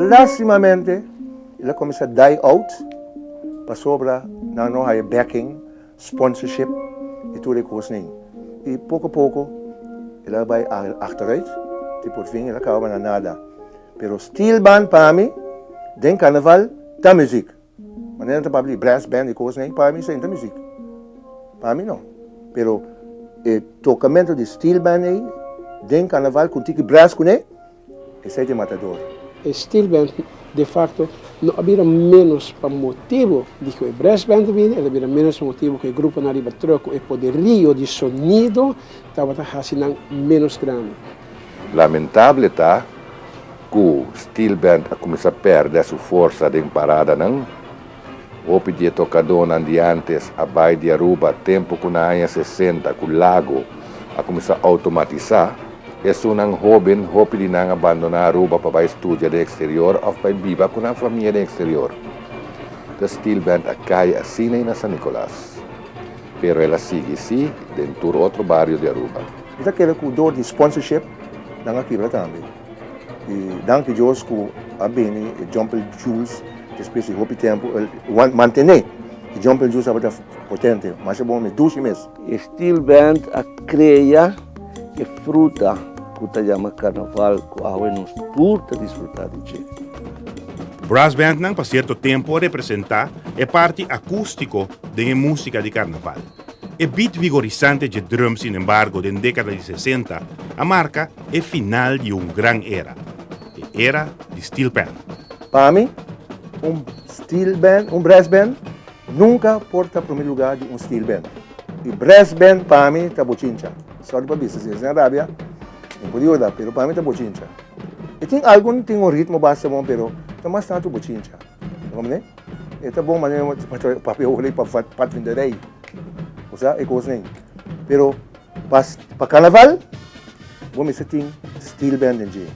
Lastimamente el a cuminsa die out pasobra nan no haya backing, sponsorship y tur e cos nin. Y poco poco el a bay achteruit ti por fin el a caba na nada. Pero Steelband pa mi den Carnaval ta muziek. Manera ta papia di brass band y cosnan ey para mi esey no ta music. Para mi no. Pero e tocamento di steel band ey den carnaval con tiki brass con ey, esey ta e matador. E steel band de facto no a bira menos pa motibo di cu e brass band a bini, el a bira menos pa motibo cu e gruponan riba truck cu e poderio di sonido, tabata haci nan menos grandi. Lamentable ta cu Steel Band a cuminsa perde su forsa den paradanan. Hopi di e tocadonan di antes a bay di Aruba tempo cu na aña sesenta cu Lago a cuminsa automatisa. Esunnan hoben, hopi di nan a bandona Aruba pa bay studia den exterior of bay biba cu nan famia den exterior. Ta Steel Band a cay asina y na San Nicolas. Pero el a sigui si den tur otro bario di Aruba. Mi ta kere ku dor di sponsorship nan a kibra tambe. I danki Dios ku a bini e Jumpel Jules despues di hopi tempu. El mantene. E Jumpel Jules tabata potente, masha bon mi dushi mes. E Steel Band a krea e fruta ku ta yama Karnaval ku awe nos tur ta disfruta di dje. Brass Band nan pa sierto tempu a representa e parti akústiko den e músika di karnaval. E beat vigorisante dje drum sin embargo den dékada di sesenta a marka e final di un gran era, e era di steel band. Pa mi, un steel band, un brass band, nunka por ta prome lugá di un steel band. E brass band pa mi ta bochincha. Sorry pa bisa si esei a rabia, mi por yuda, pero pa mi ta bochincha. E tin algu, tin un ritmo basta bon pero ta mas tantu bochincha. Ta comprendé? E ta bon manera pa trae papi e oveja pa pat vende rey. Bo sa e cos nen. Pero pa, pa carnaval bo mester tin steel band den dje.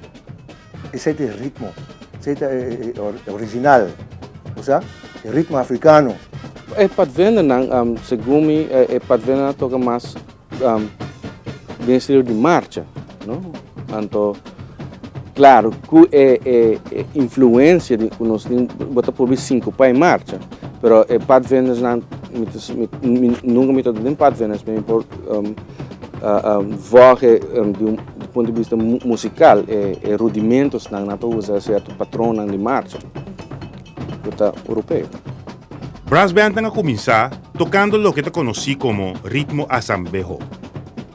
Esey ta e ritmo, esey ta e original. Bo sa? E ritmo africano. E pat vendernan, segun mi, e pat vendernan a toca mas den estilo di marcha no anto claro cu e e e influencia di cu nos tin bo ta probi sincupa e marcha pero e pad vendors nan mi ta si mi nunca mi ta den pad vendors mi por vòg e di un punto di bista musical e e rudimentos nan nan ta usa certo patronan di marcha cu ta europeo. Brass Bandnan a kuminsá tokando loke ta konosí komo ritmo asambeho,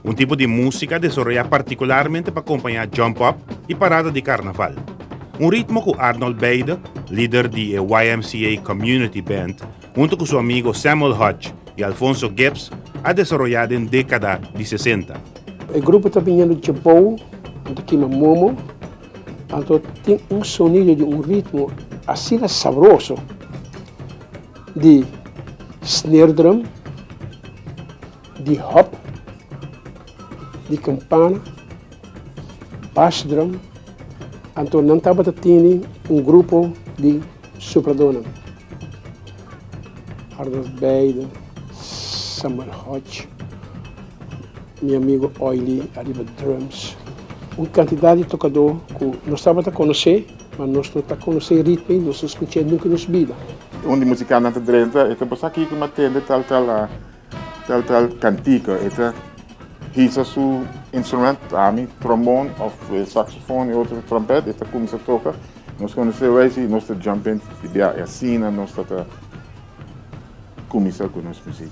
un tipo di músika desoroyá partikularmente pa kompañá jump-up i parada di karnaval, un ritmo ku Arnold Beyde, lider di e YMCA Community Band, huntu ku su amigo Samuel Hodge i Alfonso Gibbs a desoroyá den dékada di sesenta. E grupo ta biniendo dje bou, nan ta kima momo, Anto tin un sonido di un ritmo asina sabroso di snare drum, di hop, di campana, bass drum, anto nan tabata tene un grupo di supladónan, Arnold Beide, Samuel Hodge. Mi amigo Oily ariba drums. Un kantidat di tokadó ku nos tabata konosé, ma nos no ta konosé e ritme i nos no skuch'é nunka nos bida. Un di musikannan ta drenta, e ta basa kiko m'a tende tal tal a tal tal kantika. E ta hisa su instrument, ami trombon òf saksofon i otro trompet, e ta kuminsá toka. Nos konosé wèis i nos ta jump in di biaha. I asina nos tabata kuminsá ku nos musik.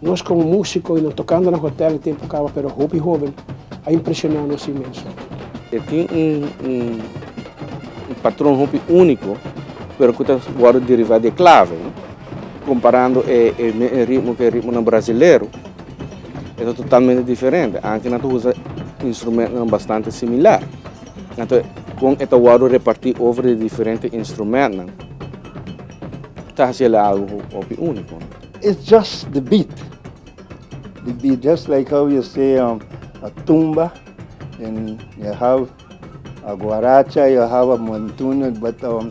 Nos como musico y nos tocando na hotel e tempo caba pero hopi hoben a impresiona nos inmenso. E tin un un un patron hopi unico pero cu ta wordo deriva di e clave no comparando e e ritmo cu e ritmonan brasilero. e ta totalmente diferente, anki nan ta usa instrumentonan bastante similar. Anto kon e ta wòrdu repartí over di diferente instrumentonan ta hasi el algu ku hopi úniko. It's just the beat, the beat just like how you say um a tumba and you have a guaracha, you have a montuno but um.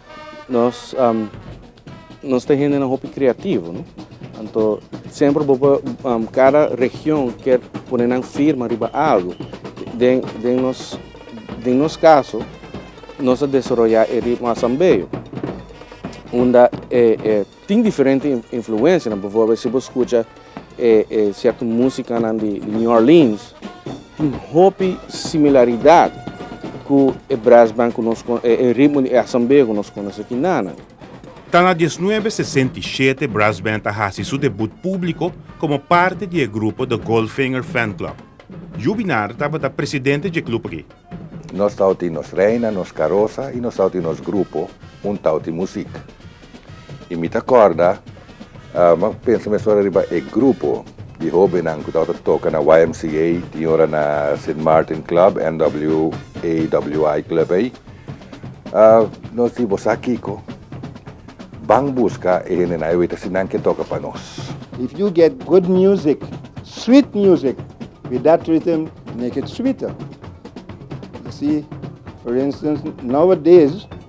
Nos nos ta hendenan hopi kreativo no anto semper bo por kada region kier pone nan firma riba algo den den nos den nos kaso nos a desoroya e ritmo Asambeyo unda e e. Tin diferente influencianan, bivorbel si bo scucha e e cierto musicanan di New Orleans tin hopi similaridad cu e brass band cu nos con e ritmo di e asambea cu nos conoce aki nanan. Ta na diesnuebe sesenta i shete brass band a haci su debut publico como parte di e grupo The Goldfinger Fan Club. Jubinar tabata presidente dje club aki. Nos tawti nos reina, nos carosa y nos tawti nos grupo un tawti music. I mi ta kòrda, mi a pensa mesora riba e grupo di hóbennan ku tabata toka na YMCA, tin ora na Sint Maarten Club, NWAWI Club ei. Nos di, Bo sa kiko? Ban buska e hendenan ei, weta si nan ke toka pa nos. If you get good music, sweet music with that rhythm make it sweeter. Así, for instance, nowadays,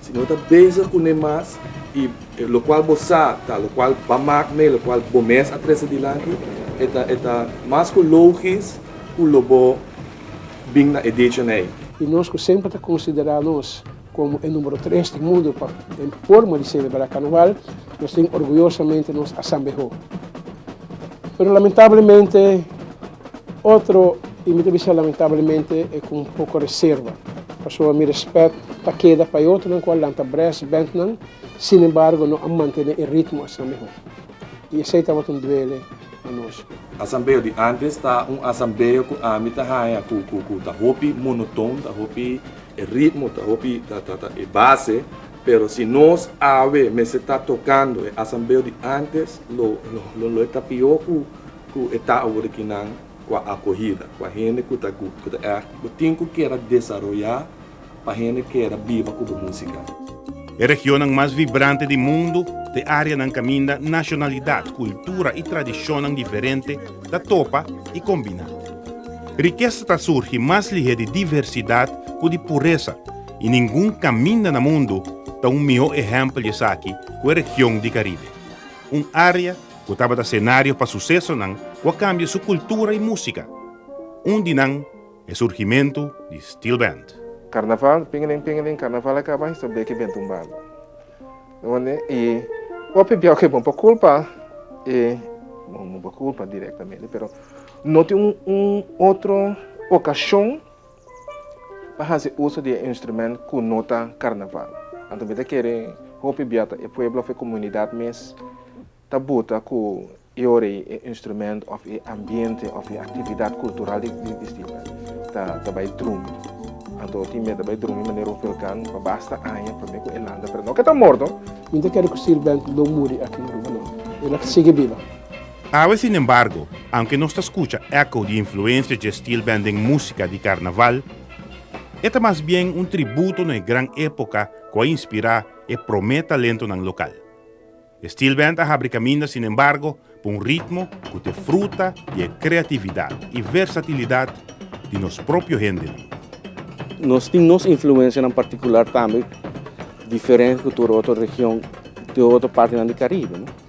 Si no ta bezig kuné mas i e lokual bo sa ta lokual ba mak mee lokual bo mes a trese dilanti, e ta e ta mas ku logis ku lo bo bin na e dicho nei. I nos ku semper ta konsiderá nos komo e numero tres di mundu pa e forma di selebrá karnaval, nos tin orguyosamente nos asambehó. Pero lamentablemente Otro y mi ta bisa lamentablemente e cu un poco reserva, pasobra mi respet ta keda pa e otronan cu a lanta brass bandnan, sinembargo no a mantene e ritmo asina miho. Y esey tabata un duele pa nos. Asambeo di antes ta un asambeo cu ami ta haya cu ta hopi monotoon, ta hopi e ritmo, ta hopi ta e base, pero si nos awe mester ta tocando e asambeo di antes, lo lo lo lo e ta pior cu Ku e ta awor aki nan kua akohida, kua hende ku ta gup, ku ta ègt. Bo tin ku keda desaroyá pa hende keda biba ku bo músika. E regionnan mas vibrante di mundu, ku e áreanan kaminda nashonalidat, kultura i tradishonnan diferente ta topa i kombiná. Rikesa ta surgi mas lihé di diversidat ku di puresa, i ningun kaminda na mundu ta un mihó ehèmpel di esaki ku e region di Karibe. Un área ku tabata senario pa susesonan ku a kambia su kultura i músika. Un di nan e surgimentu di Steel Band. Karnaval, Pingelin pingelin, karnaval a kaba, Hiso Bleki Ben Tumbando. Dónde i hopi biaw ke bon pa kulpa e, bon, no por kulpa direktamente, pero no tin un otro okashon Pa hasi uso di e instrumento ku no ta karnaval. Anto mi ta kere hopi bia ta e pueblo òf e komunidat mes ta buta ku i ora ei e instrumento òf e ambiente òf e aktividat kultural di Distinta ta bai drumi. Anto tin mia ta bai drumi manera un velkan pa basta aña promé ku e landa pero no ke ta morto. Mi no ta kere ku Stilbent lo muri aki na Aruba no. El a sigui biba. Awe sin embargo, aunke nos ta scucha eco di influencia dje stil band den musica di carnaval, e ta mas bien un tributo na e gran epoca cu a inspira e prome talentonan local. E stil band a habri caminda sin embargo pa un ritmo cu t'e fruta di e creatividad y versatilidad di nos propio hendenan. Nos tin nos influencianan particular tambe diferente cu tur otro region den otro partenan di Caribe.